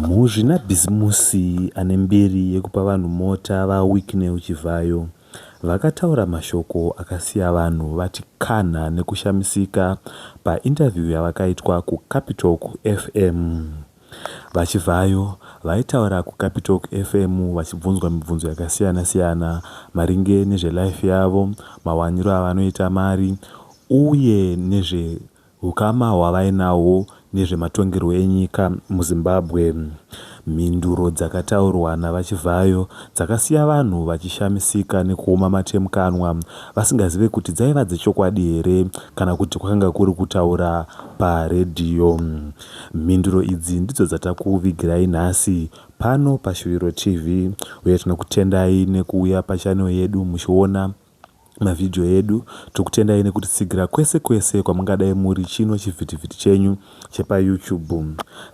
Muzvinabhizimusi ane mbiri yekupa vanhu mota, VaWicknell Chivhayo, vakataura mashoko akasiya vanhu vati kanha nekushamisika painterview yavakaitwa kuCapitalk FM. VaChivhayo vaitaura kuCapitalk FM vachibvunzwa mibvunzo yakasiyana siyana maringe nezvelife yavo, mawaniro avanoita mari uye nezve Hukama hwavainahwo nezvematongerwo enyika muZimbabwe. Mhinduro dzakataurwa naVaChivhayo dzakasiya vanhu vachishamisika nekuoma mate mukanwa vasingazive kuti dzaiva dzechokwadi here kana kuti kwakanga kuri kutaura paredhiyo. Mhinduro idzi ndidzo dzatakuvigirai nhasi pano paShuviro TV uye tinokutendai nekuuya pachannel yedu muchiona mavideo edu tokutendai nekutitsigira kwese kwese kwamungadai muri chino chivhitivhiti chenyu chepayoutube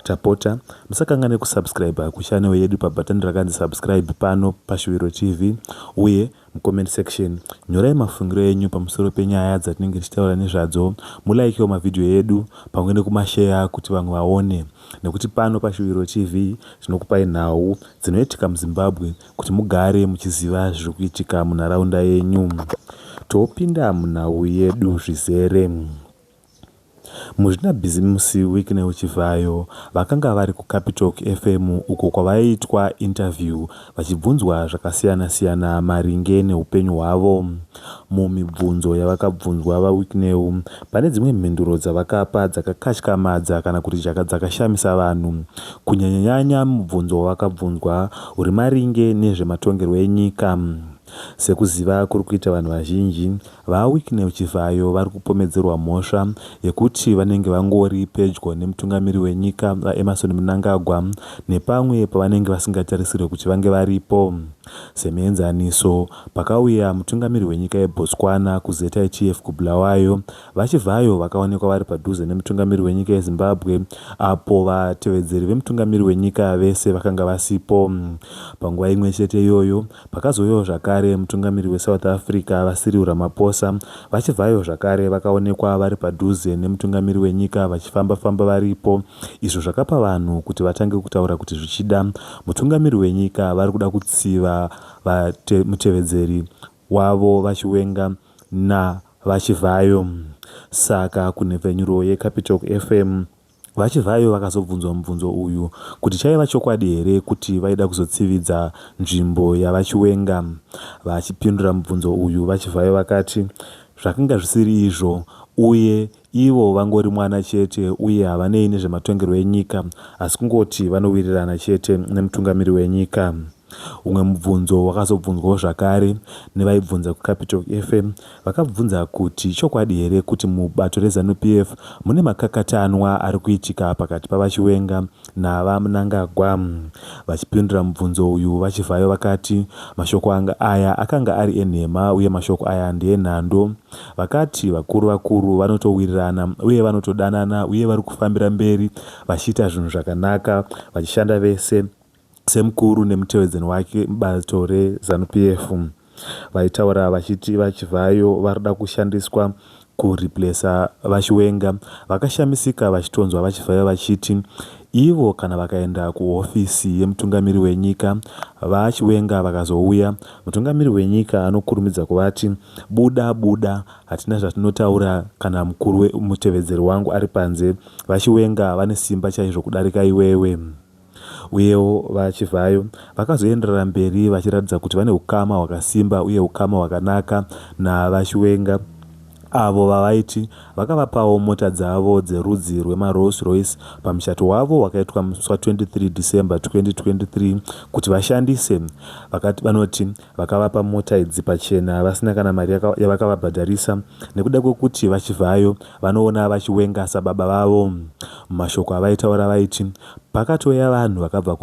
tapota musakanganwe kusubscriber kuchanel yedu pabhatani rakanzi subscribe pano pashuviro tv uye mucomment section nyorai mafungiro enyu pamusoro penyaya dzatinenge tichitaura nezvadzo mulikewo mavhidhiyo edu pamwe nekumasheya kuti vamwe vaone nekuti pano pashuviro tv tinokupai nhau dzinoitika muzimbabwe kuti mugare muchiziva zviri kuitika munharaunda yenyu topinda munhau yedu zvizere muzvinabhizimusi wicknel chivhayo vakanga vari kucapital fm uko kwavaiitwa interview vachibvunzwa zvakasiyana-siyana maringe neupenyu hwavo Mumibvunzo yavakabvunzwa VaWicknell, pane dzimwe mhinduro dzavakapa dzakakatyamadza kana kuti dzakashamisa vanhu, kunyanyanyanya mubvunzo wavakabvunzwa uri maringe nezvematongerwo enyika. Sekuziva kuri kuita vanhu vazhinji, VaWicknell Chivhayo vari kupomedzerwa mhosva yekuti vanenge vangori pedyo nemutungamiri wenyika, VaEmmerson Mnangagwa, nepamwe pavanenge vasingatarisirwe kuti vange varipo. Semuenzaniso, Pakauya mutungamiri wenyika yeBotswana kuZETAI Chief kuBulawayo, VaChivhayo vakaonekwa vari padhuze nemutungamiri wenyika yeZimbabwe apo vatevedzeri vemutungamiri wenyika vese vakanga vasipo. Panguva imwe chete iyoyo, pakazouyawo zvakare mutungamiri weSouth Africa, VaCyril Ramaphosa, VaChivhayo zvakare vakaonekwa vari padhuze nemutungamiri wenyika vachifamba-famba varipo izvo zvakapa vanhu kuti vatange kutaura kuti zvichida mutungamiri wenyika vari kuda kutsiva mutevedzeri wavo VaChiwenga naVaChivhayo. Saka kunhepfenyuro yeCapitalk FM, VaChivhayo vakazobvunzwa mubvunzo uyu kuti chaiva chokwadi here kuti vaida kuzotsividza nzvimbo yaVaChiwenga. Vachipindura mubvunzo uyu, VaChivhayo vakati zvakanga zvisiri izvo uye Ivo vangori mwana chete uye havanei nezvematongerwo enyika asi kungoti vanowirirana chete nemutungamiri wenyika. Umwe mubvunzo wakazobvunzwawo zvakare nevaibvunza kuCapital FM vakabvunza kuti ichokwadi here kuti mubato reZanu PF mune makakatanwa ari kuitika pakati paVaChiwenga naVaMnangagwa. Vachipindura mubvunzo uyu, VaChivhayo vakati mashoko anga aya akanga ari enhema uye mashoko aya ndeenhando. Vakati vakuru vakuru vanotowirirana uye vanotodanana uye vari kufambira mberi vachiita zvinhu zvakanaka vachishanda vese semukuru nemutevedzeni wake mubato reZanu PF. Vaitaura vachiti VaChivhayo varikuda kushandiswa ku replacer VaChiwenga. Vakashamisika vachitonzwa VaChivhayo vachiti ivo kana vakaenda kuhofisi yemutungamiri wenyika, VaChiwenga vakazouya, mutungamiri wenyika anokurumidza kuvati buda buda hatina zvatinotaura kana mukuru mutevedzeri wangu ari panze. VaChiwenga vane simba chaizvo kudarika iwewe. Uyewo, VaChivhayo vakazoenderera mberi vachiratidza kuti vane ukama hwakasimba uye ukama hwakanaka naVaChiwenga, avo vavaiti vakavapawo mota dzavo dzerudzi rwemaRolls Royce pamuchato wavo wakaitwa musi wa 23 December 2023 kuti vashandise. Vakati, vanoti vakavapa mota idzi pachena vasina kana mari yavakavabhadharisa nekuda kwekuti VaChivhayo vanoona VaChiwenga sababa vavo. Mumashoko avaitaura vaiti, Pakatouya vanhu vakabva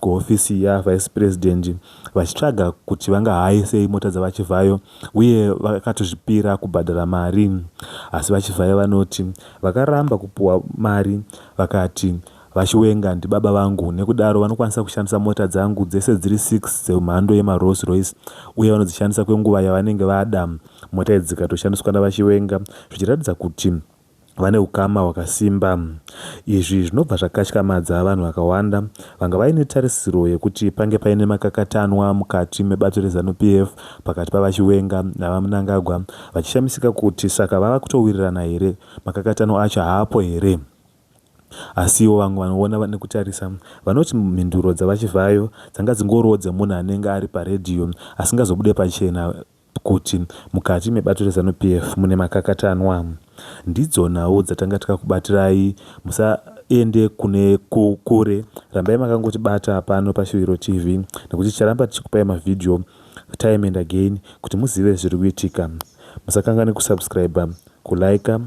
kuhofisi yaVice President vachitsvaga kuti vangahaye sei mota dzaVaChivhayo uye vakatozvipira kubhadhara mari asi VaChivhayo vanoti vakaramba kupuwa mari vakati VaChiwenga ndibaba vangu nekudaro vanokwanisa kushandisa mota dzangu dzese dziri six dzemhando yemaRolls Royce uye vanodzishandisa kwenguva yavanenge vada mota idzi dzikatoshandiswa naVaChiwenga zvichiratidza kuti vane ukama hwakasimba. Izvi zvinobva zvakatyamadza vanhu vakawanda vanga vaine tarisiro yekuti pange paine makakatanwa mukati mebato reZanu-PF pakati paVaChiwenga naVaMnangagwa vachishamisika kuti saka vava kutowirirana here, makakatanwa acho haapo here. Asiwo vamwe vanoona nekutarisa vanoti mhinduro dzaVaChivhayo dzanga dzingoriwo dzemunhu anenge ari paredhiyo asingazobude pachena kuti mukati mebato reZanu PF mune makakatanwa. Ndidzo nhau dzatanga takakubatirai musaende kune kure rambai makangotibata pano paShuviro TV nekuti ticharamba tichikupai mavhidhiyo time and again kuti muzive zviri kuitika. Musakanganwe kusubscriber, kulaika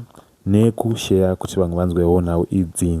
nekusheya kuti vamwe vanzwewo nhau idzi.